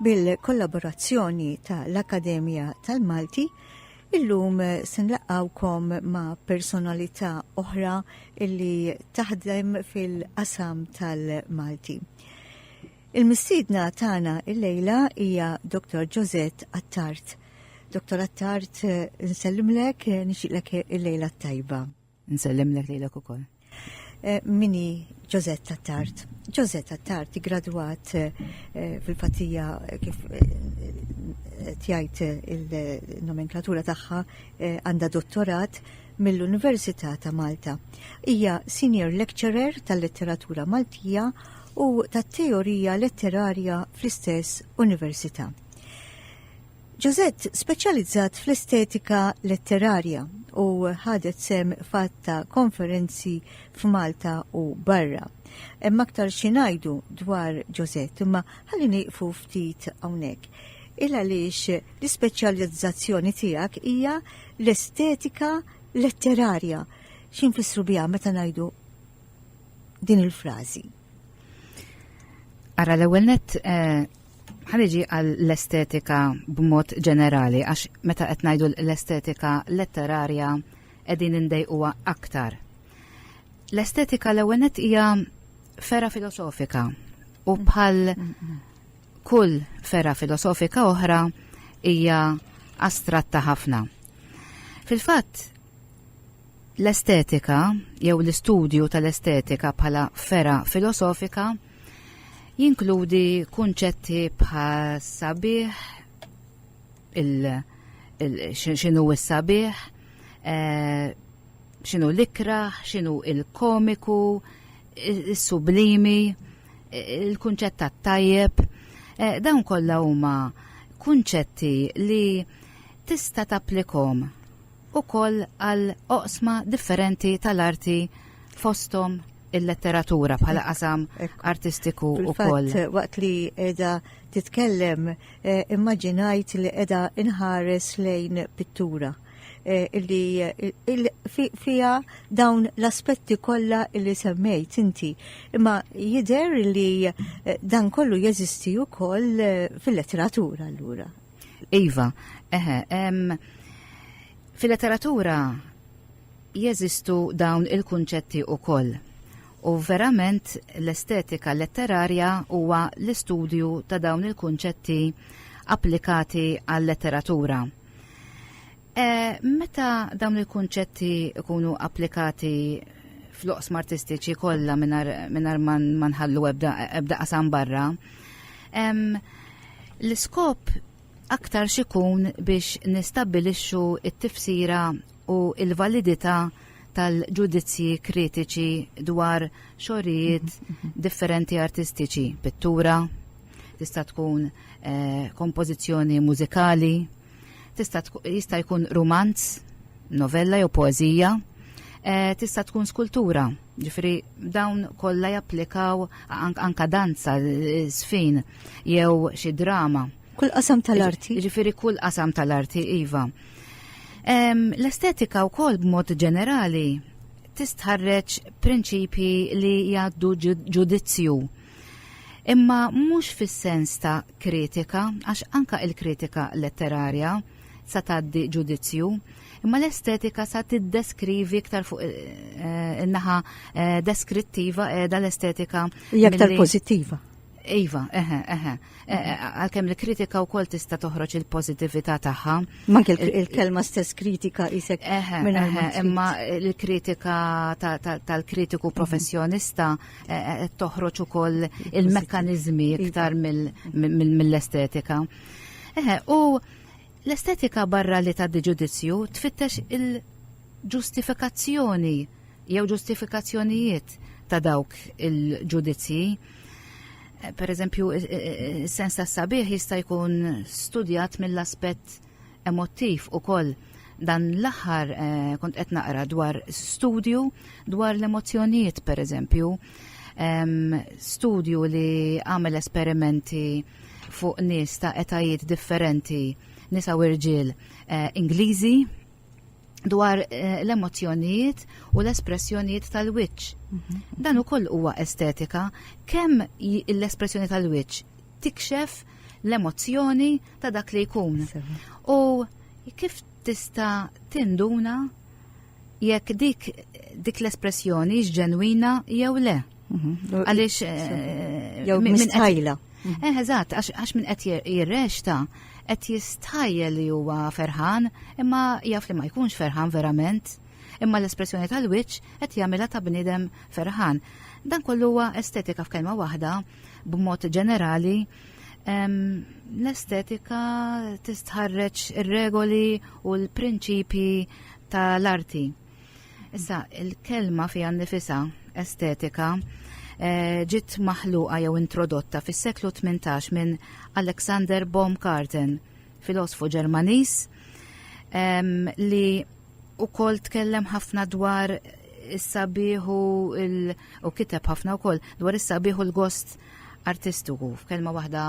Bil-kollaborazzjoni ta' l-Akkademja tal-Malti, illum se nlaqgħukom ma' personalità oħra illi taħdem fil-qasam tal-Malti. Il-mistidna tagħna il-lejla hija Dr. Josette Attart. Dr. Attart, nsellimlek, nixilek il-lejla tajba. Nsellimlek lejlek ukoll. Eh, mini Ġozet Tattart. Ġozet Tattart gradwat eh, eh, fil-fatija kif tjajt il-nomenklatura tagħha għandha dottorat mill-Università ta' Malta. Hija senior lecturer tal-letteratura Maltija u tat-teorija letterarja fl-istess università. Josette speċjalizzat fl-estetika letterarja u ħadet sehem f'għadd ta' konferenzi f'Malta u barra. Hemm aktar xi ngħidu dwar Josette, imma ħalli nieqfu ftit hawnhekk. Il għaliex l-ispeċjalizzazzjoni tiegħek hija l-estetika letterarja. X'infissru biha meta ngħidu din il-frażi? Ara l-ewwel nett eh, Ħaniġi għall-estetika b'mod ġenerali għax meta qed ngħidu l-estetika letterarja qegħdin indejquha aktar. L-estetika l-ewwel hija fera filosofika u bħal kull fera filosofika oħra hija astratta ħafna. Fil-fatt, L-estetika, jew l-istudju tal-estetika bħala fergħa filosofika, jinkludi kunċetti bħas-sabiħ, x'inhu s-sabiħ, eh, x'inhu l-ikraħ, x'inhu l-komiku, is-sublimi, il-kunċett tat-tajjeb. Eh, dawn kollha huma kunċetti li tista' tapplikom ukoll għal oqsma differenti tal-arti fosthom il-letteratura bħala qasam artistiku wkoll. Waqt li qiegħda titkellem eh, immaġinajt li qiegħda inħares lejn pittura eh, illi fija dawn l-aspetti kollha illi semmejt inti. Imma jidher li eh, dan kollu jeżisti wkoll fil-letteratura allura. Iva, eħe, em, fil-letteratura jeżistu dawn il-kunċetti u koll. U verament l-estetika letterarja huwa l-istudju ta' dawn il-kunċetti applikati għal-letteratura. Eh, meta dawn il-kunċetti ikunu applikati fl-oqsma artistiċi kollha mingħajr ma nħallu ebda qasam barra, l-iskop aktar xikun biex nistabilixxu it-tifsira u il-validità tal-ġudizzji kritiċi dwar xorijiet differenti artistiċi, pittura, tista' tkun eh, kompożizzjoni mużikali, Tista' jista' jkun rumanz, novella jew poeżija, eh, tista' tkun skultura. Ġifri, dawn kollha japplikaw anka danza, eh, sfin jew xi drama. Kull qasam tal-arti. Ġifiri kull qasam tal-arti, Iva. L-estetika u kol b'mod ġenerali tistħarreċ prinċipji li jaddu ġudizzju Imma mhux fis-sens ta' kritika, għax anka il-kritika letterarja sa tgħaddi ġudizzju, imma l-estetika sa tiddeskrivi iktar fuq eh, in-naħa eh, deskrittiva qiegħda l-estetika. Hija aktar pożittiva. Iva, eħe, eħe. E, e, għalkemm li kritika u kol tista toħroġ il-pozitivita taħħa. Ma il-kelma stess kritika isek. Eħe, eħe, imma il-kritika tal-kritiku mhm. professjonista eh, toħroġ ukoll il-mekkaniżmi iktar mill-estetika. Eħe, u l-estetika barra li ta' ġudizzju tfittex il-ġustifikazzjoni jew ġustifikazzjonijiet ta' dawk il-ġudizzji. Eh, per eżempju, eh, eh, sens ta' sabiħ jista' jkun studjat mill-aspett Emottiv ukoll dan l-aħħar eh, kont qed naqra dwar studju dwar l-emozzjonijiet pereżempju. Studju li għamel esperimenti fuq nies ta' etajiet differenti nisa u rġiel eh, Ingliżi dwar eh, l-emozjonijiet u l-espressjonijiet tal-wiċċ. Mhm. Dan ukoll huwa estetika kemm l-espressjoni tal-wiċċ tikxef l-emozzjoni ta' dak li jkun. U kif tista' tinduna jekk dik dik l-espressjoni ġenwina jew le. Mhm. Għaliex eh, jew mistajla. Mhm. Eh, eżatt, għax minn qed jirrexta qed jistajjel li huwa ferħan, imma jaf li ma jkunx ferħan verament, imma l-espressjoni tal-wiċċ qed jagħmilha ta' bniedem ferħan. Dan kollu huwa estetika f'kelma waħda, B'mod ġenerali, l-estetika tistħarreġ ir-regoli u l-prinċipji tal-arti. Issa, il-kelma fija nifisa estetika eh, ġiet maħluqa jew introdotta fis-seklu 18 minn Alexander Baumgarten, filosfu Ġermaniż, li ukoll tkellem ħafna dwar is-sabiħ u l- u kiteb ħafna wkoll dwar is-sabiħ u l-gost artistiku f'kelma waħda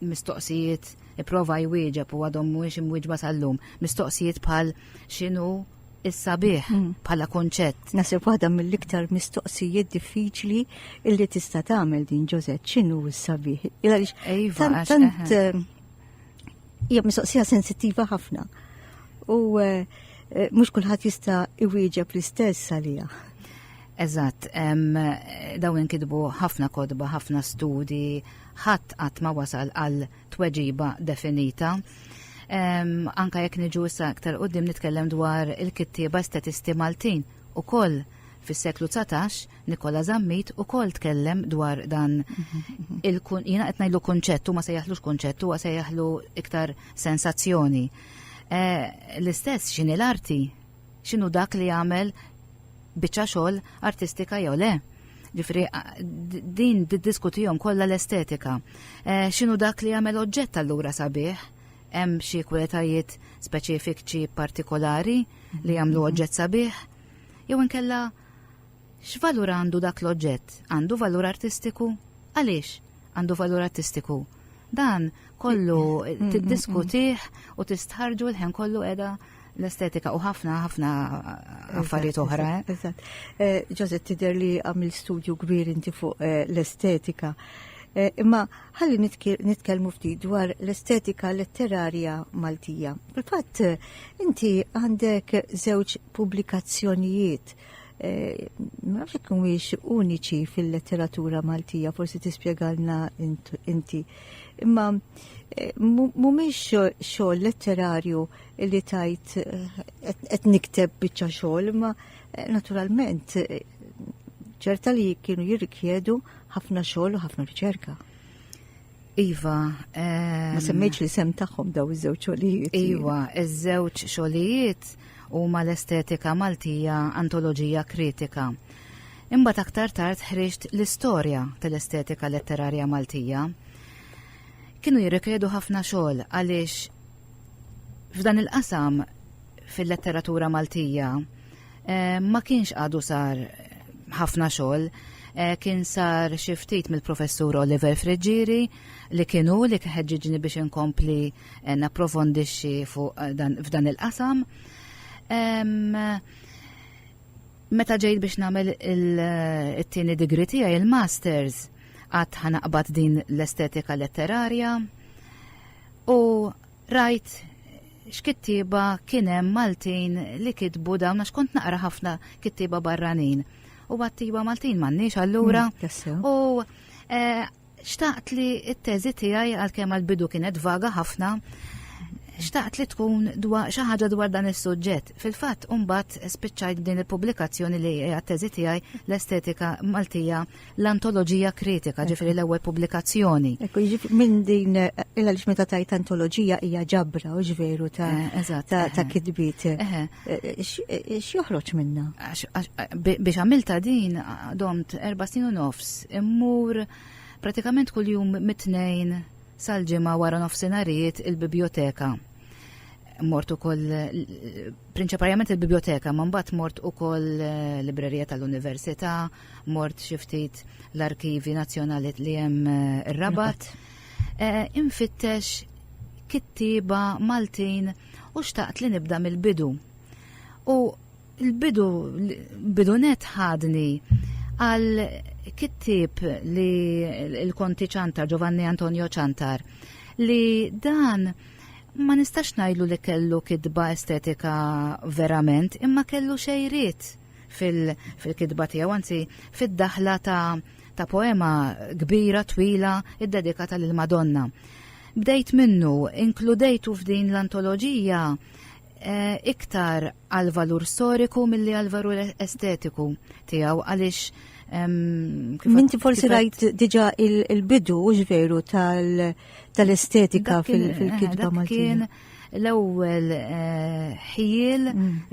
mistoqsijiet ipprova jwieġeb u għadhom mhuwiex imwieġba sal-lum. Mistoqsijiet bħal x'inhu is-sabiħ Mm. bħala konċett. Nasib waħda mill-iktar mistoqsijiet diffiċli illi tista' tagħmel din Ġozet x'inhu s-sabiħ. Għaliex Iva, tant għax- tant eħe. eh, Hija mistoqsija sensittiva ħafna. U eh, eh, mhux kulħadd jista' iwieġeb l-istess għalija. Eżatt, dawn inkitbu ħafna kodba, ħafna studi, ħadd qatt ma wasal għal tweġiba definita. Anka jekk niġu issa aktar qudiem nitkellem dwar il-kittieba statisti Maltin u koll fis-seklu 19 Nikola Zammit ukoll tkellem dwar dan il jiena qed ngħidlu kunċett huma sejjaħlux kunċett huwa sejjaħlu iktar sensazzjoni. Eh, l-istess x'inhi l-arti? X'inhu dak li jagħmel biċċa xogħol artistika jew le? Ġifri, din diskutijom kollha l-estetika. Eh, x'inhu dak li jagħmel oġġett allura sabiħ? Hemm xi kwalitajiet speċifiċi partikolari li jagħmlu oġġett sabiħ? Jew inkella X'valur għandu dak l-oġġett? Għandu valur artistiku? Għaliex għandu valur artistiku? Dan kollu tiddiskutih u tistħarġu l-ħen kollu edha l-estetika u ħafna ħafna affarijiet oħra. Ġozet eh? tider li għamil studju kbir inti fuq eh, l-estetika. Eh, imma ħalli nitkellmu ftit dwar l-estetika letterarja Maltija. Fil-fatt, inti għandek żewġ pubblikazzjonijiet Eh, ma nafx jekk mhuwiex uniċi fil-letteratura Maltija, forsi tispjegalna inti. Imma eh, mhumiex xogħol letterarju li tajt eh, qed nikteb biċċa xogħol, imma naturalment ċerta li kienu jirrikjedu ħafna xogħol u ħafna riċerka. Iva, ma semmejtx li sem tagħhom daw iż-żewġ xogħlijiet. Iva, iż-żewġ xogħlijiet huma l-estetika Maltija antoloġija kritika. Imbagħad aktar tard ħriġt l-istorja tal-estetika letterarja Maltija. Kienu jirrikredu ħafna xogħol għaliex f'dan il-qasam fil-letteratura Maltija Eh, ma kienx għadu sar ħafna xogħol eh, kien sar xi ftit mill-professur Oliver Friġġieri li kienu li kħedġiġni biex inkompli eh, napprofondixxi fuq dan f'dan il-qasam. Meta ġejt biex nagħmel it-tieni digri tiegħi il-masters għad ħanaqbad din l-estetika letterarja u rajt x'kittieba kien hemm Maltin li kitbu dawn għax kont naqra ħafna kittieba barranin. U għattiba Maltin m'għandniex allura. Mm, u eh, xtaqt li t-teżi tiegħi għalkemm għall-bidu kienet vaga ħafna xtaqt li tkun dwar xi ħaġa dwar dan is-suġġett. Fil-fatt mbagħad spiċċajt din il-pubblikazzjoni li hija teżi tiegħi l-estetika Maltija l-antoloġija kritika, ġifieri l-ewwel pubblikazzjoni. Ekku, jiġifieri minn din il-għaliex meta tajt antoloġija hija ġabra u ġveru ta' eh, ta' eh. kitbiet. Eh, x'joħroġ minna? Biex għamilta din domt erba' snin u nofs, immur pratikament kuljum mit-tnejn sal-ġimgħa wara nofsinarijiet il-biblioteka mort ukoll prinċipalment il-biblioteka, ma mbagħad mort ukoll eh, librerija tal-università, Mort xi ftit l-arkivi nazzjonali li hemm eh, rabat. Eh, infittex kittiba Maltin u xtaqt li nibda mill-bidu. U l-bidu bidu net ħadni għal kittib li l-konti ċantar Giovanni Antonio ċantar li dan ma nistax najlu li kellu kidba estetika verament, imma kellu xejriet fil-kitba tiegħu, anzi fid-daħla ta' poema kbira twila iddedikata lil Madonna. Bdejt minnu, inkludejtu f'din l-antoloġija eh, iktar għal valur storiku milli għal valur estetiku tiegħu għaliex Minti forsi rajt diġa il-bidu ġveru tal-estetika fil-kitba Maltin. l-ewwel ħiel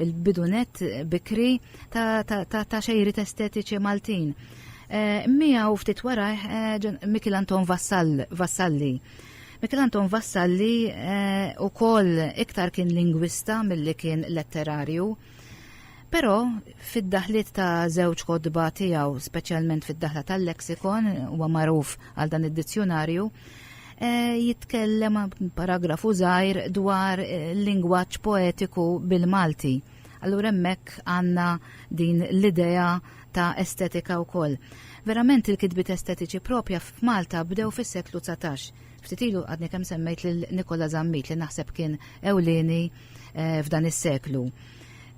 il-bidunet bikri ta' xejrit estetiċi Maltin. Mija u ftit wara Mikil Anton Vassalli Mikel Anton Vassalli eh, u koll iktar kien lingwista mill-li kien letterarju. Però fid-daħliet ta' żewġ kodba tiegħu, speċjalment fid-daħla tal-leksikon, huwa magħruf għal dan id-dizzjonarju, eh, jitkellem paragrafu żgħir dwar eh, lingwaġġ poetiku bil-Malti. Allura hemmhekk għandna din l-idea ta' estetika wkoll. Verament il-kitbit estetiċi propja f'Malta bdew fis-seklu 19. Ftitilu għadni kemm semmejt lil Nikola Zammit li naħseb kien ewlieni eh, f'dan is-seklu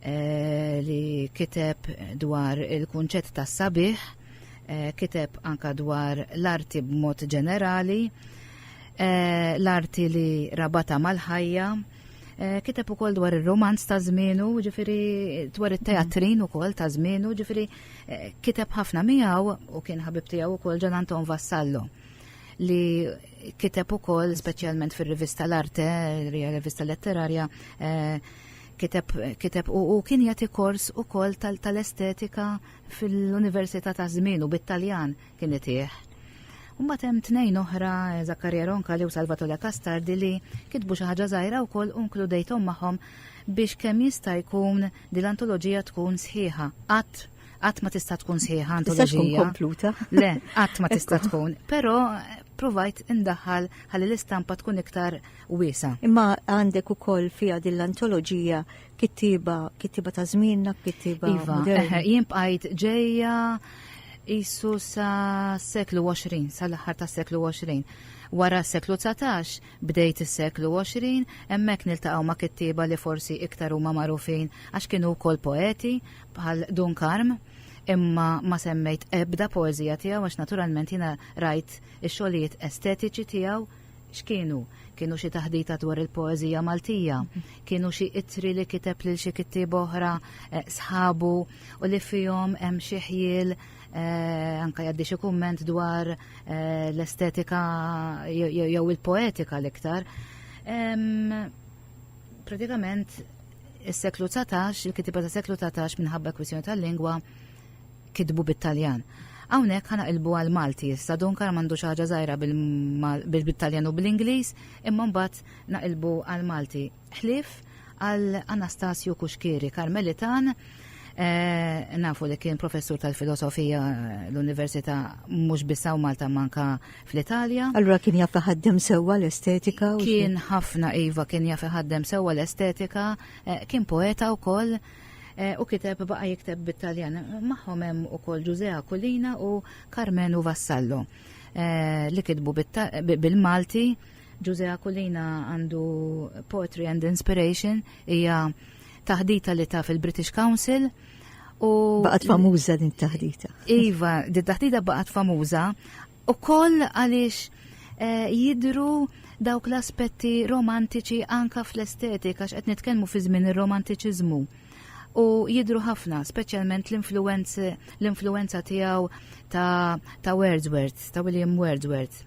eh, li kiteb dwar il-kunċett ta' sabiħ, eh, kiteb anka dwar l-arti b'mod ġenerali, l-arti li rabata mal-ħajja, Eh, kiteb ukoll dwar ir-romanz ta' żmienu, ġifieri dwar it-teatrin ukoll ta' żmienu, ġifieri eh, kiteb ħafna miegħu u kien ħabib tiegħu wkoll Ġan Anton Vassallo. li kiteb ukoll speċjalment fir-rivista l-Arte, rivista letterarja, eh, kiteb, kiteb u, u kien jagħti kors ukoll tal-estetika tal fil-Università ta' Żmien u bit-Taljan kien itih. Mbagħad hemm tnejn oħra Zakkarja Ronka li u Salvatore Castardi li kitbu xi ħaġa żgħira wkoll u nkludejthom magħhom biex kemm jista' jkun din l-antoloġija tkun sħiħa. Qatt Qatt ma tista' tkun sħiħa antoloġija. Tista' tkun kompluta. Le, qatt ma tista' tkun, però provajt indaħħal ħalli l-istampa tkun iktar wiesa. Imma għandek ukoll fiha din l-antoloġija kittiba, kittiba ta' żmienna, kittiba. Iva, eh, jien bqajt ġejja jisu sa seklu 20, sal-aħħar ta' seklu 20. Wara s-seklu 19 bdejt is-seklu 20 hemmhekk niltaqgħu ma' kittieba li forsi iktar huma magħrufin għax kienu wkoll poeti bħal Dunkarm, imma ma semmejt ebda poezija tiegħu għax naturalment jiena rajt ix-xogħlijiet estetiċi tiegħu x'kienu? Kienu xi taħdita dwar il-poeżija Maltija, kienu xi itri li kiteb lil xi kittieb oħra eh, sħabu u li fihom hemm xi ħjiel eh, anka jaddi xi kumment dwar eh, l-estetika jew il-poetika l-iktar. Pratikament is-seklu 19, il-kitiba ta' seklu 19 minħabba kwistjoni tal-lingwa kitbu bit-Taljan. Hawnhekk ħana ilbu għal Malti issa Dunkar m'għandux ħaġa żgħira bil-Taljan u bl-Ingliż, imma mbagħad naqilbu għal Malti. Ħlief għal Anastasju Kuxkiri, Karmelitan, eh, nafu li kien professur tal-filosofija l-Università mhux bissaw Malta manka fl-Italja. Allura kien jaf iħaddem sewwa l-estetika u kien ħafna iva kien jaf iħaddem sewwa l-estetika, eh, kien poeta wkoll eh, u kiteb baqa' jikteb bit-Taljan. Magħhom hemm ukoll Ġużea Kulina u Carmenu Vassallo eh, li kitbu bil-Malti. Ġużea Kulina għandu Poetry and Inspiration hija taħdita li taf il-British Council u baqgħet famuża din taħdita. Iva, din taħdita baqgħet famuża u koll għaliex eh, jidru dawk l-aspetti romantiċi anka fl-estetika għax qed nitkellmu fi żmien ir-romantiċiżmu u jidru ħafna, speċjalment l-influenza tiegħu ta', ta Wordsworth, ta' William Wordsworth.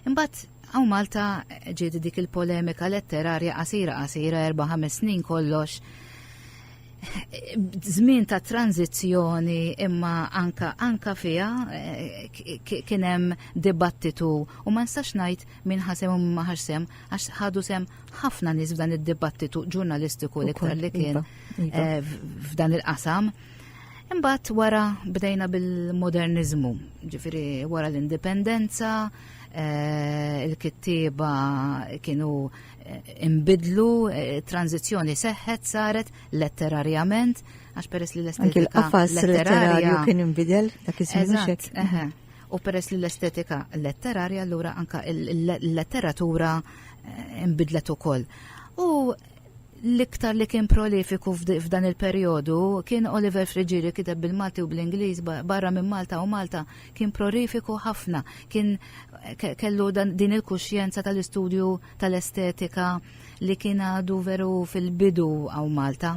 Imbagħad hawn Malta ġiet dik il-polemika letterarja qasira qasira erba' ħames snin kollox żmien ta' tranzizzjoni imma anka anka fiha eh, kien hemm dibattitu u ma nistax ngħid min ħasem u ma ħarsem għax ħadu sem ħafna nies f'dan id-dibattitu ġurnalistiku li kien iva, iva. Eh, f'dan il-qasam. Imbagħad wara bdejna bil-moderniżmu, ġifieri wara l-indipendenza, eh, il-kittieba kienu eh, imbidlu, eh, tranzizzjoni seħħet saret letterarjament, għax peress li l-estetika letterarja kien imbidel dak iż-żmien U peress li l-estetika letterarja allura anka l-letteratura imbidlet ukoll. U L-iktar li kien prolifiku f'dan il-perjodu kien Oliver Friggieri kiteb bil-Malti u bl-Ingliż barra minn Malta u Malta kien prolifiku ħafna, kien kellu din il-kuxjenza tal-istudju tal-estetika li kien għadu veru fil-bidu għaw Malta.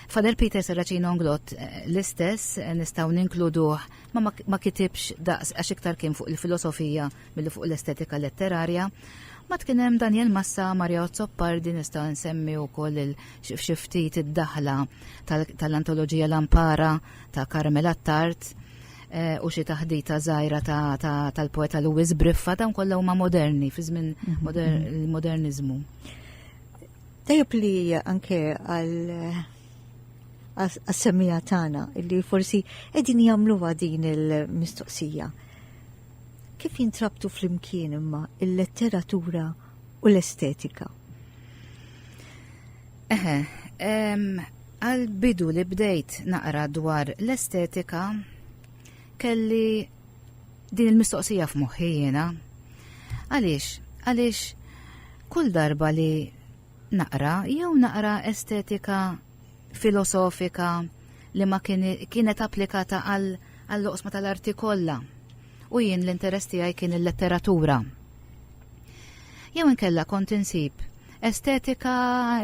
Fader Peter Serracin Onglot eh, l-istess eh, nistaw ninkluduh ma ma kitibx daqs għax iktar kien fuq il-filosofija Milli fuq l-estetika letterarja, ma tkien hemm Daniel Massa, Mario Zoppardi, nista' nsemmi wkoll xi ftit id-daħla tal-antoloġija Lampara ta' Karmel Attard eh, u xi taħdita żgħira tal-poeta Louis Briffa dawn kollha huma moderni fi żmien mhm. il-moderniżmu. Tajjeb li anke għal għas-semmija tagħna li forsi qegħdin jagħmluha din il-mistoqsija Kif jintrabtu flimkien imma il-letteratura u l-estetika? Eħe, għal bidu li bdejt naqra dwar l-estetika kelli din il-mistoqsija f'moħħi jiena. Għaliex, għaliex kull darba li naqra jew naqra estetika filosofika li ma kienet applikata għall-oqsma tal-arti kollha. U jien l-interess tiegħi kien il-letteratura. Jew inkella kont insib estetika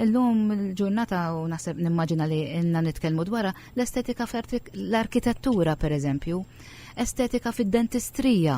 l-lum il-ġurnata u naħseb nimmaġina li inna nitkellmu dwarha l-estetika l-arkitettura pereżempju, estetika fid-dentistrija.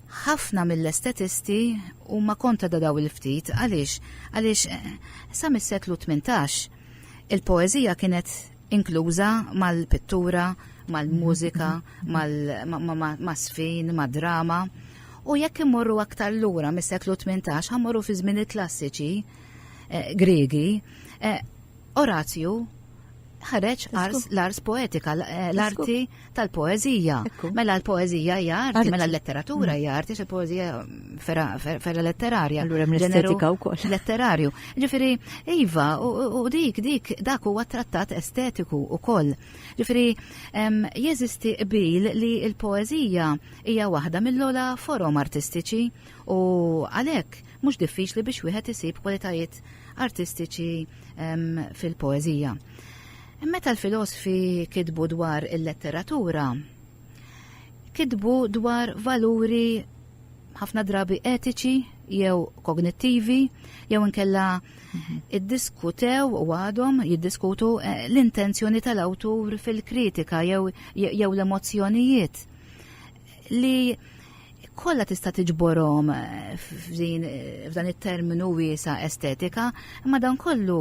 Ħafna mill-estetisti huma kontra da daw il-ftit. Għaliex? Għaliex sa mis-seklu tmintax, il-poeżija kienet inkluża mal-pittura, mal-mużika, mal-għasfien, mad-drama. U jekk immorru aktar lura mis-seklu tmintax, ħa mmorru fiż-żmien il-klassiċi Griegi, Orazju ħareġ l-ars poetika, l-arti tal-poezija. Mela l-poezija hija arti, mela l-letteratura hija arti, se poezija ferra letterarja. Allura hemm l-estetika wkoll. Letterarju. Ġifieri, iva, u dik dik dak huwa trattat estetiku wkoll. Ġifieri, jeżisti qbil li l-poezija hija waħda mill-ola forom artistiċi U għalhekk mhux diffiċli biex wieħed isib kwalitajiet artistiċi fil-poeżija. Meta l-filosofi kitbu dwar il-letteratura, kitbu dwar valuri ħafna drabi etiċi jew kognittivi jew inkella mhm. iddiskutew u għadhom jiddiskutu eh, l-intenzjoni tal-awtur fil-kritika jew, jew l-emozzjonijiet li kollha tista' tiġborhom eh, eh, f'dan it-terminu wiesa estetika, imma dan kollu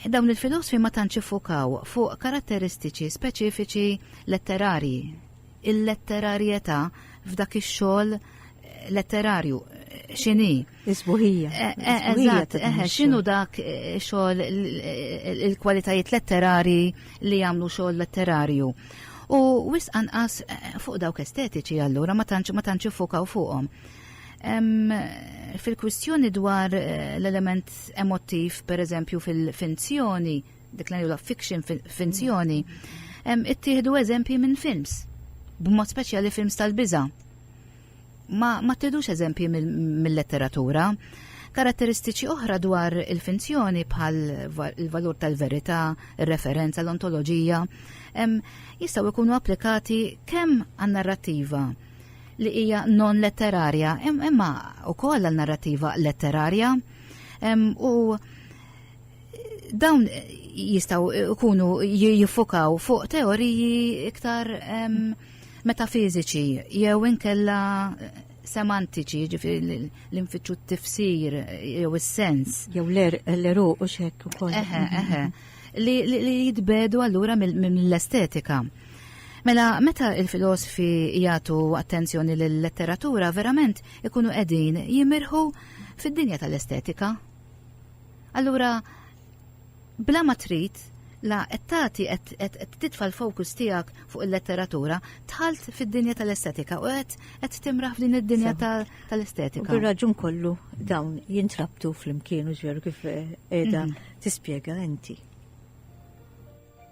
eh, dawn il-filosofi ma tantx ifukaw fuq karatteristiċi speċifiċi letterarji. Il-letterarjetà f'dak ix-xogħol letterarju x'inhi. Is-sbuħija. Eh, eh, eżatt, eh, x'inhu dak xogħol il-kwalitajiet letterari li jagħmlu xogħol letterarju. U wis anqas fuq dawk estetiċi allura ma tantx ma tantx ifukaw fuqhom. Fil-kwistjoni dwar l-element emotiv, per eżempju, fil-finzjoni, dik l fiction finzjoni, ittieħdu eżempji minn films, b'mod speċjali films tal-biża' Ma, ma tidux eżempji mill-letteratura. Karatteristiċi oħra dwar il-finzjoni bħal il-valur tal-verità, ir-referenza, l-ontoloġija, jistgħu jkunu applikati kemm għan-narrattiva li hija non letterarja, imma wkoll għal narrattiva letterarja u dawn jistaw ikunu jiffukaw fuq teoriji iktar um, metafiżiċi jew inkella eh, semantiċi, ġifiri l-infittxu t-tifsir jew is-sens. Jew l-eru u xek u koll. Eħe, eħe. Li jitbedu allura mill-estetika. Mela, meta il-filosofi jgħatu attenzjoni l-letteratura, verament ikunu edin jimirħu fid-dinja tal-estetika. Allura, Bla ma trid, la qed tagħti qed qed qed titfa' l-focus tiegħek fuq il-letteratura, dħalt fid-dinja tal-estetika u qed qed timraħ f'din id-dinja ta' U tal-estetika. bir-raġun kollu dawn jintrabtu flimkien mhux veru kif qiegħda tispjega inti.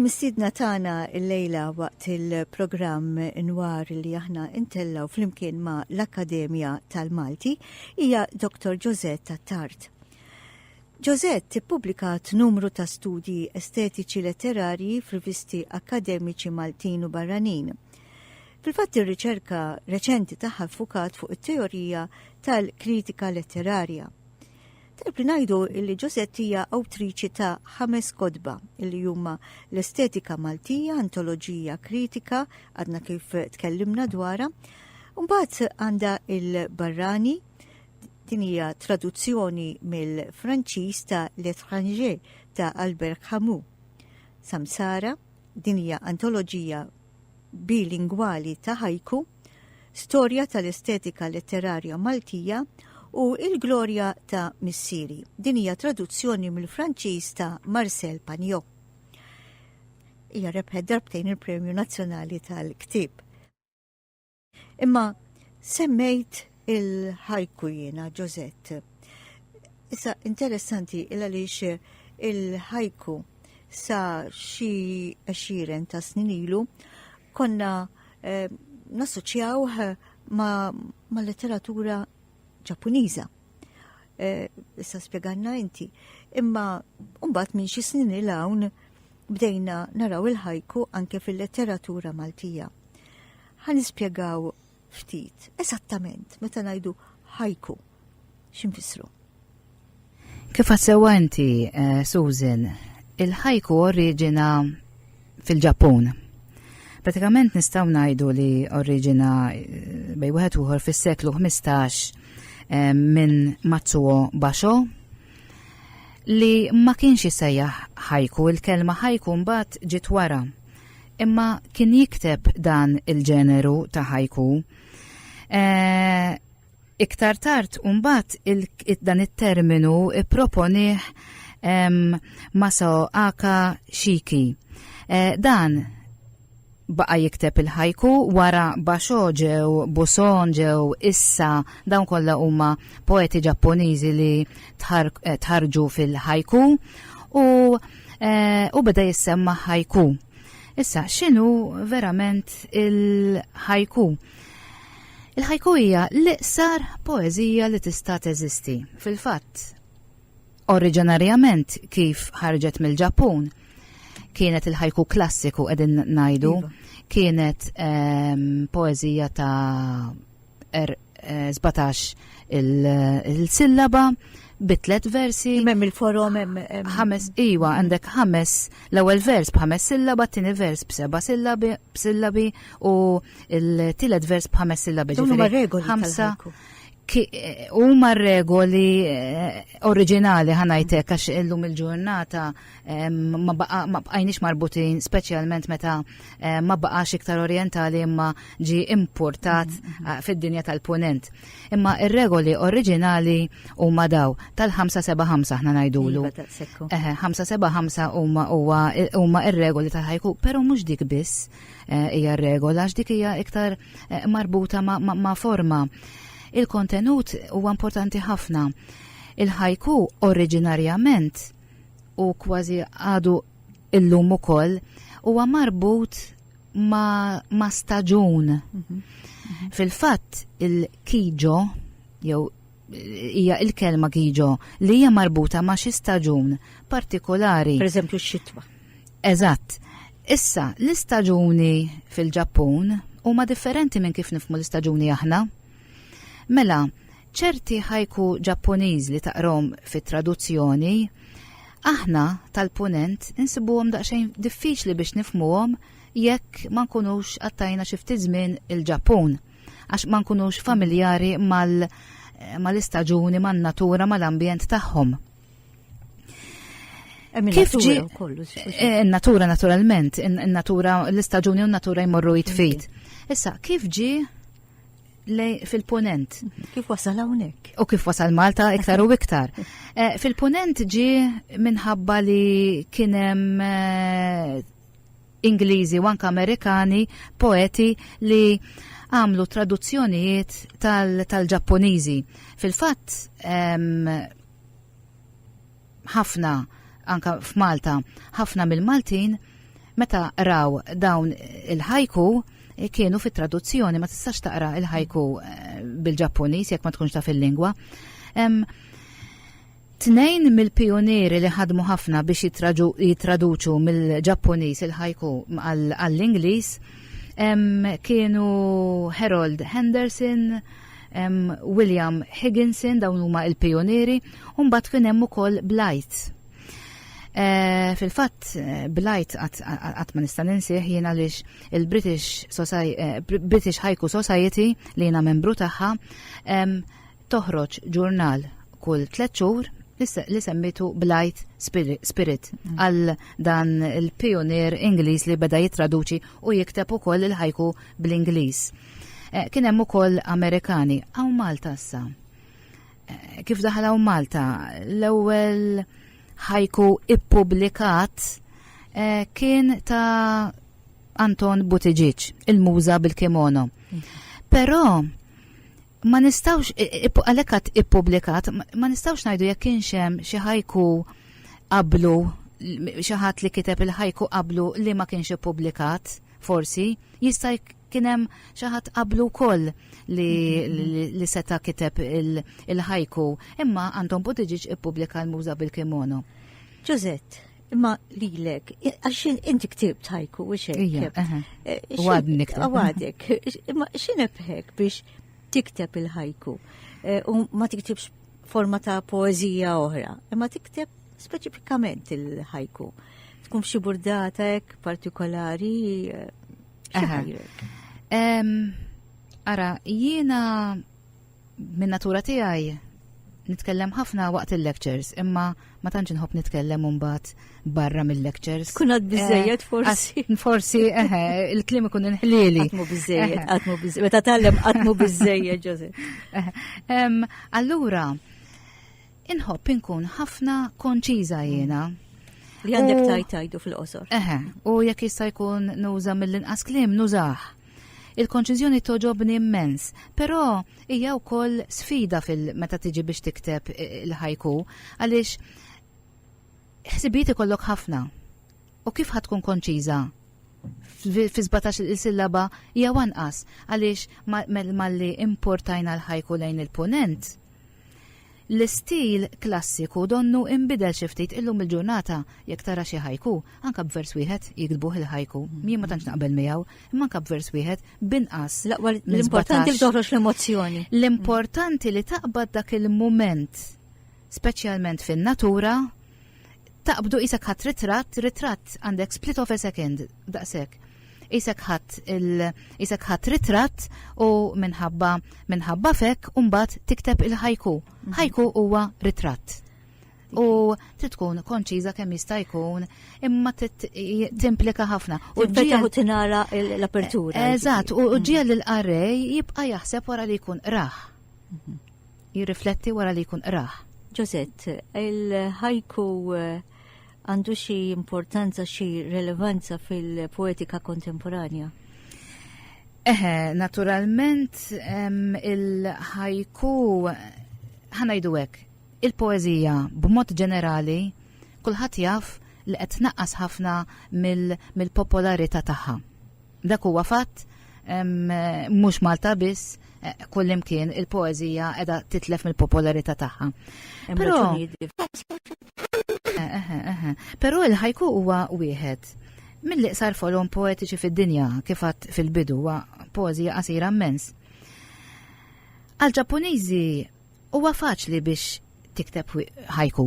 Il-mistiedna tagħna llejla waqt il-programm Inwar li aħna intellgħu flimkien ma' l-Akkademja tal-Malti hija Dr. Josette Attard. Josette tippubblikat numru ta' studji estetiċi letterarji f'rivisti akkademiċi Maltin u barranin. Fil-fatt ir-riċerka reċenti tagħha ffukat fuq it-teorija tal-kritika letterarja. Tajb li ngħidu li Ġosett hija awtriċi ta' ħames kodba li huma l-estetika Maltija, antoloġija kritika, għadna kif tkellimna dwarha, Mbagħad għandha il-barrani din hija traduzzjoni mill-Franċiż ta' L'Étranger ta' Albert Camus. Samsara din hija antoloġija bilingwali ta' haiku, Storja tal-estetika letterarja Maltija u Il-glorja ta' missieri. Din hija traduzzjoni mill-Franċiż ta' Marcel Pagnot. Hija rebħet darbtejn il-Premju Nazzjonali tal-Ktieb. Imma semmejt il-ħajku jiena Ġozett. Issa interessanti il għaliex il-ħajku sa xi għexieren ta' snin ilu konna eh, nassoċjaw eh, ma', ma letteratura ġappuniża. Eh, issa eh, spjeganna inti. Imma mbagħad minn xi snin il hawn bdejna naraw il-ħajku anke fil-letteratura Maltija. Ħa nispjegaw ftit eżattament meta ngħidu ħajku x'infissru. Kif għassewa inti, eh, Susan, il-ħajku oriġina fil-Ġappun. Pratikament nistaw najdu li oriġina eh, bej wieħed uħor fis-seklu 15 eh, minn Matsuo Basho li ma kienx jisajja ħajku, il-kelma ħajku mbagħad ġiet wara. Imma kien jikteb dan il-ġeneru ta' ħajku. E, iktar tard umbat il dan it-terminu proponiħ Maso Aka Shiki. E, dan baqa jikteb il-ħajku wara Basho ġew Buson ġew issa dawn kollha huma poeti Ġappuniżi li eh, tħarġu fil-ħajku u eh, u beda jissemma ħajku. Issa, xinu verament il-ħajku? Il-ħajku hija l-iqsar poezija li tista' teżisti. Fil-fatt, oriġinarjament kif ħarġet mill-Ġappun, kienet il-ħajku klassiku qegħdin ngħidu, iva. kienet ehm, poezija ta' er 17 eh, il-sillaba bi tliet versi. Mem il-forom ħames iwa għandek ħames l-ewwel vers b'ħames sillaba, t-tieni vers b'seba' sillabi u l-tielet vers b'ħames sillabi. Huma regoli ħamsa huma regoli eh, oriġinali ħanajtek għax illum il-ġurnata ma bqajniex marbutin, speċjalment meta ma baqax iktar orientali imma ġi importat mm-hmm. fid-dinja tal-punent. Imma ir-regoli oriġinali huma daw tal-575 aħna ngħidulu. 575 iva, huma huma ir-regoli tal-ħajku, però mhux dik biss eh, hija regola għax dik hija iktar eh, marbuta ma' forma. Il-kontenut huwa importanti ħafna. Il-ħajku oriġinarjament u kważi għadu illum ukoll huwa marbut ma, ma staġun. Mm -hmm. Fil-fatt il-kiġo jew hija il-kelma kiġo li hija marbuta ma' xi staġun partikolari. Per eżempju x-xitwa. Eżatt. Issa, l-istaġuni fil-Ġappun huma differenti minn kif nifmu l-istaġuni aħna. Mela, Ċerti haiku Ġappuniż li taqrahom fit-traduzzjoni, aħna tal-Punent insibuhom daqsxejn diffiċli biex nifhmuhom jekk ma nkunux qattajna xi ftit żmien il-Ġappun, għax ma nkunux familjari mal mal-istaġuni, man-natura, mal-ambjent tagħhom. Kif ġi eh, natura naturalment, natura l-istaġuni u natura jmorru jitfit. Issa, kif ġi fil-ponent. Kif wasal hawnhekk? U kif wasal Malta iktar u iktar. Eh, fil-ponent ġi minħabba li kien hemm eh, Ingliżi u anke Amerikani poeti li għamlu traduzzjonijiet tal-Ġapponiżi. Fil-fatt ħafna anka f'Malta, ħafna mill-Maltin meta raw dawn il-ħajku kienu fit traduzzjoni ma tistax taqra il-ħajku eh, bil-Ġappuniż jekk ma tkunx taf il-lingwa. Tnejn mill-pionieri li ħadmu ħafna biex jitraduċu mill-Ġappuniż il-ħajku għall-Ingliż kienu Harold Henderson hemm William Higginson dawn huma l-pijunieri u mbagħad kien hemm ukoll Blight. Eh, fil-fatt eh, Blight qatt ma nista' ninsih jien għaliex il-British eh, British Haiku Society li jiena membru tagħha toħroġ ġurnal kull tliet xhur li semmitu Blight Spirit mm. għal dan il-pionier Ingliż li beda jitraduċi u jikteb ukoll il-ħajku bl-Ingliż. Eh, kien hemm ukoll Amerikani hawn Malta issa. Eh, kif daħal hawn Malta l-ewwel ħajku ippubblikat eh, kien ta' Anton Butiġiċ, il-muża bil-kimono. Però ma nistawx għalekat ippubblikat, ma nistawx ngħidu jekk kienx hemm xi ħajku qablu xi ħadd li kiteb il-ħajku qablu li ma kienx ippubblikat, forsi jista' Kien hemm xi ħadd qablu wkoll li, li seta' kiteb il-ħajku, imma Anton Buttigieg ippubblika l-muża bil-kimono. Ġużett, imma lilek, għax inti ktibt ħajku u xejn. Għadnik. Eh, Għadek, imma xinebħek biex tikteb il-ħajku eh, u ma tiktibx forma ta' poezija oħra, imma tikteb speċifikament il-ħajku. Tkun xi burdata hekk partikolari eh, Ara, jiena minn natura tiegħi nitkellem ħafna waqt il-lectures, imma ma tantx inħobb nitkellem mbagħad barra mill-lectures. Kun għad biżejjed eh, forsi. Forsi, eħe, il-klim ikun inħlieli. Għatmu biżejjed, għatmu biżejjed. Meta tallem għatmu biżejjed, Ġose. Allura, Inħobb inkun ħafna konċiża jiena. Li għandek tajt tajdu fil-qosor. Eħe, u jekk jista' jkun nuża mill-inqas kliem nużah. Il-konċiżjoni toġobni immens, però hija wkoll sfida fil-meta tiġi biex tikteb il-ħajku għaliex ħsibijiet ikollok ħafna. U kif ħa tkun konċiża? Fi sbatax il sillaba jew anqas, għaliex malli importajna l-ħajku lejn il-Punent, l-istil klassiku donnu inbidel xi ftit illum il-ġurnata jekk tara xi ħajku, anke b'vers wieħed jiktbuh il-ħajku. Jien ma tantx naqbel miegħu, imma anke b'vers wieħed binqas. L-importanti li toħroġ l-emozzjoni. L-importanti li taqbad dak il-mument, speċjalment fin-natura, taqbdu qisek ħadd ritratt, ritratt għandek split of a second daqshekk. Qisek ħadd qisek ħadd ritratt u minħabba minħabba fek u mbagħad tikteb il-ħajku. Mhm. Ħajku huwa ritratt. U trid tkun konċiża kemm jista' jkun imma timplika ħafna. U ġiegħu tinara l-apertura. Eżatt, u mhm. ġiegħel l-qarrej jibqa' jaħseb wara li jkun raħ. Mhm. jirrifletti wara li jkun qrah. Ġożett, il-ħajku għandu xi importanza, xi relevanza fil-poetika kontemporanja? Eħe, naturalment il-ħajku ħanajdu hekk, il-poeżija b'mod ġenerali kulħadd jaf li qed tnaqqas ħafna mill-popolarità tagħha. Dak huwa fatt mhux Malta biss eh, kullimkien il-poezija edha titlef mill-popolarità tagħha. Però eh, eh, Però il-ħajku huwa wieħed mill-iqsar folom poetiċi fid-dinja kif fil-bidu huwa poezija qasira mmens. Għal-Ġappuniżi huwa faċli biex tikteb ħajku.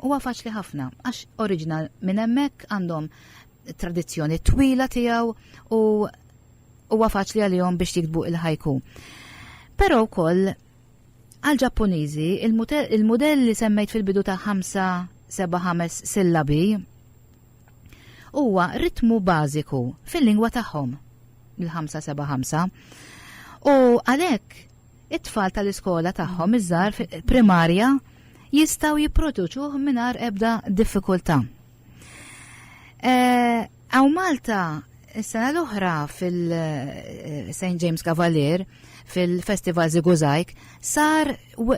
Huwa faċli ħafna għax oriġinal minn hemmhekk għandhom tradizzjoni twila tiegħu u huwa faċli għalihom biex jiktbu il-ħajku. Però wkoll għal Ġappuniżi il-mudell li semmejt fil-bidu ta' 5-7-5 sillabi huwa ritmu bażiku fil-lingwa tagħhom il-5-7-5 u għalhekk it-tfal tal-iskola tagħhom iż-żar primarja jistgħu jipproduċuh mingħajr ebda diffikultà. Eh, għaw Malta, s-sena l-oħra fil-St. Eh, James Cavalier, fil-Festival Ziguzajk, sar,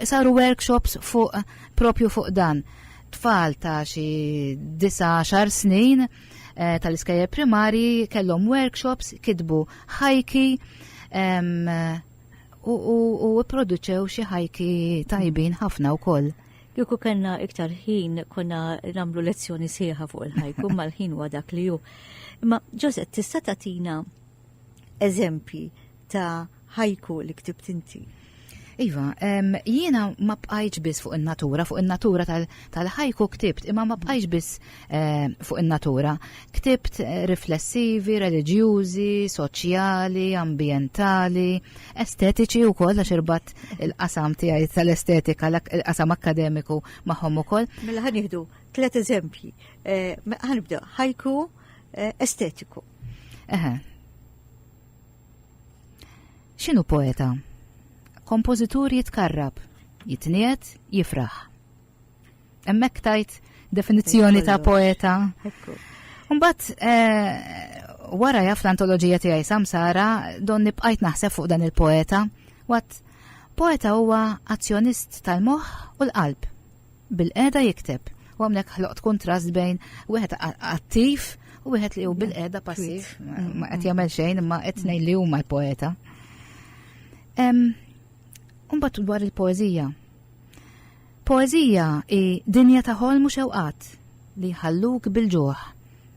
saru workshops fuq, propju fuq dan. Tfal ta' xi 19 snin eh, tal-iskajja primari kellhom workshops, kitbu ħajki, u produċew xi ħajki tajbin ħafna wkoll. Kieku kellna iktar ħin konna nagħmlu lezzjoni sieħa fuq il-ħajku mal-ħin huwa dak li hu. Imma Ġosep tista' tagħtina eżempji ta' ħajku li ktib tinti. Iva, jiena ma bqajġ biss fuq in-natura, fuq in-natura tal-ħajku ktibt, imma ma bqajġ biss Eh, fuq in-natura. Ktibt eh, riflessivi, reliġjużi, soċjali, ambjentali, estetiċi wkoll għax irbat il-qasam tiegħi tal-estetika, il-qasam akademiku magħhom ukoll. Mela ħan nieħdu tliet eżempji. Eh, ħanibda ħajku estetiku. Eħe. X'inhu poeta? Kompożitur jitkarrab, jitniet, jifraħ. Hemmhekk tajt definizzjoni ta' poeta. Mbagħad eh, wara jaf l-antoloġija tiegħi Samsara don nibqajt naħseb fuq dan il-poeta. Wat poeta huwa azzjonist tal-moħħ u l-qalb. Bil-qeda jikteb. U għamnek ħloqt kontrast bejn wieħed attiv u wieħed li hu bil-qeda passiv. Ma qed jagħmel xejn imma qed ngħid li huma l-poeta. Mbagħad dwar il-poeżija. Poeżija hi dinja ta' ħolm u xewqat li jħalluk bil-ġuħ.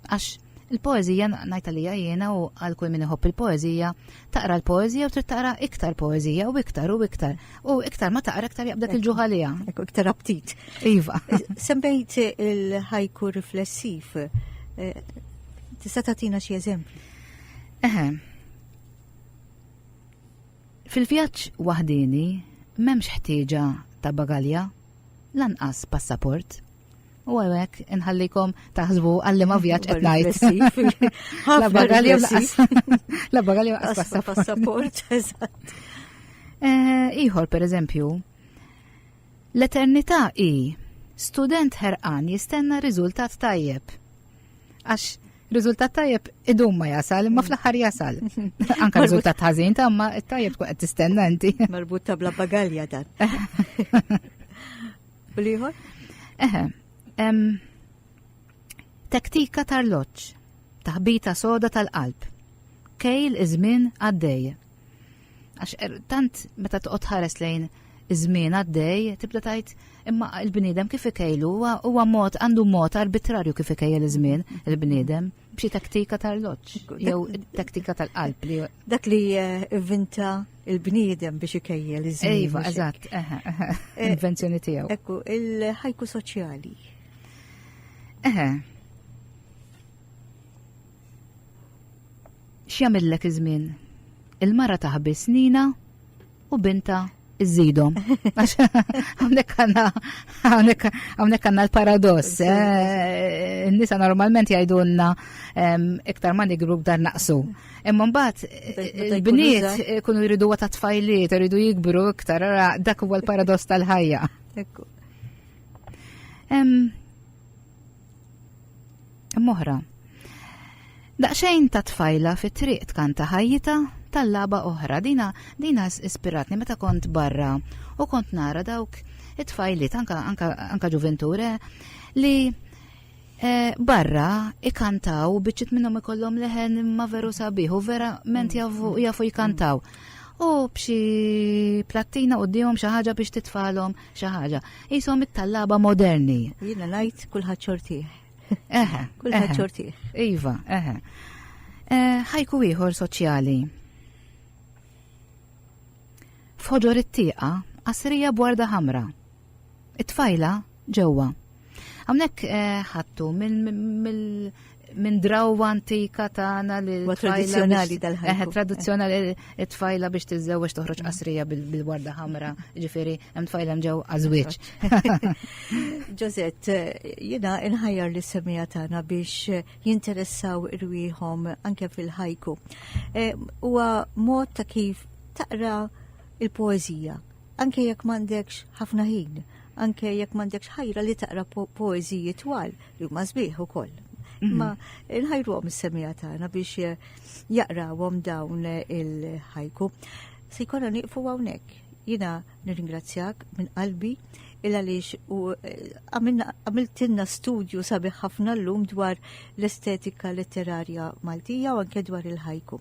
Għax il-poeżija, ngħid għalija jiena u għal kull min iħobb il-poeżija, taqra l-poeżija u trid taqra iktar poeżija u iktar u iktar. U iktar ma taqra iktar jaqbdak il-ġuħ għaliha. Ekku iktar aptit. Iva. Sembejt il-ħajku riflessiv. Eh, tista' tagħtina xi eżempju? Eħe, Fil-vjaġġ waħdieni m'hemmx ħtieġa ta' bagalja, lanqas passaport. U għawek, inħallikom taħsbu għalli ma vjaġġ qed ngħid. La bagalja lanqas. La bagalja lanqas passaport. Eh, ieħor pereżempju, L-eternità hi student ħerqan jistenna riżultat tajjeb. Għax riżultat tajjeb idum ma jasal, imma mm. fl-aħħar jasal. Anka riżultat ħażin ta' ma tajjeb tkun qed tistenna inti. Marbut ta' bla bagalja dan. U liħor? Eħe. Taktika tar-loċ, taħbita soda tal-qalb. Kejl iż-żmien għaddej. Għax er, tant meta toqgħod ħares lejn iż-żmien għaddej, tibda tgħid imma l-bniedem kif ikejlu huwa mod għandu mod arbitrarju kif ikejjel iż-żmien il-bniedem b'xi taktika tal-loġġ jew taktika tal-qalb li dak li eh, vinta il-bniedem biex ikejjel iż-żmien. Iva, eżatt, eh, invenzjoni tiegħu. Ekku, il-ħajku soċjali. Eħe, X'jagħmillek iż-żmien? Il-mara taħbi snina u binta iżidhom. Hawnhekk għandna hawnhekk għandna l-paradoss. Eh, nisa normalment jgħidulna iktar ma nigru b'dar naqsu. Imma mbagħad il-bniet eh, eh, kunu jridu ta' tfajliet, jridu jikbru iktar, dak huwa l-paradoss tal-ħajja. Moħra. Daqxejn ta' tfajla fit triq tkanta ħajjita tal-laba oħra. Dina, dina ispiratni meta kont barra u kont nara dawk it-tfajliet, anka, anka, anka ġuventure, li eh, barra ikantaw biċċit minnhom ikollhom leħen ma veru sabiħu, vera ment mm. jafu jkantaw. U b'xi plattina u d-dijom xaħġa biex titfalom xi ħaġa. Ishom it-tallaba moderni. Jiena ngħid kulħadd xortih. Eħe. Kulħadd xortih. Iva, eħe. Eh, ħajku ieħor soċjali. F'ħoġor it-tieqa, qasrija b'warda ħamra. It-tfajla ġewwa. Hawnhekk eh, ħattu mill minn drawwa antika tagħna li tradizzjonali tal-ħajja. Eh, tradizzjonali it-tfajla biex tiżżewweġ toħroġ qasrija bil-warda ħamra, ġifieri hemm tfajla mġew għażwieġ. Ġozet, jiena inħajjar li semija tagħna biex jinteressaw irwieħhom anke fil-ħajku. Eh, huwa mod ta' kif taqra il-poeżija Anke jekk m'għandekx ħafna ħin, anke jekk m'għandekx ħajra li taqra poeżiji twal li huma sbieħ ukoll. Imma mhm. nħajruhom is-semija tagħna biex eh, jaqrawhom dawn eh, il-ħajku. Se jkollna nieqfu hawnhekk. Jiena nirringrazzjak minn qalbi il għaliex u eh, għamiltinna studju sabiħ ħafna l-lum dwar l-estetika letterarja Maltija u anke dwar il-ħajku.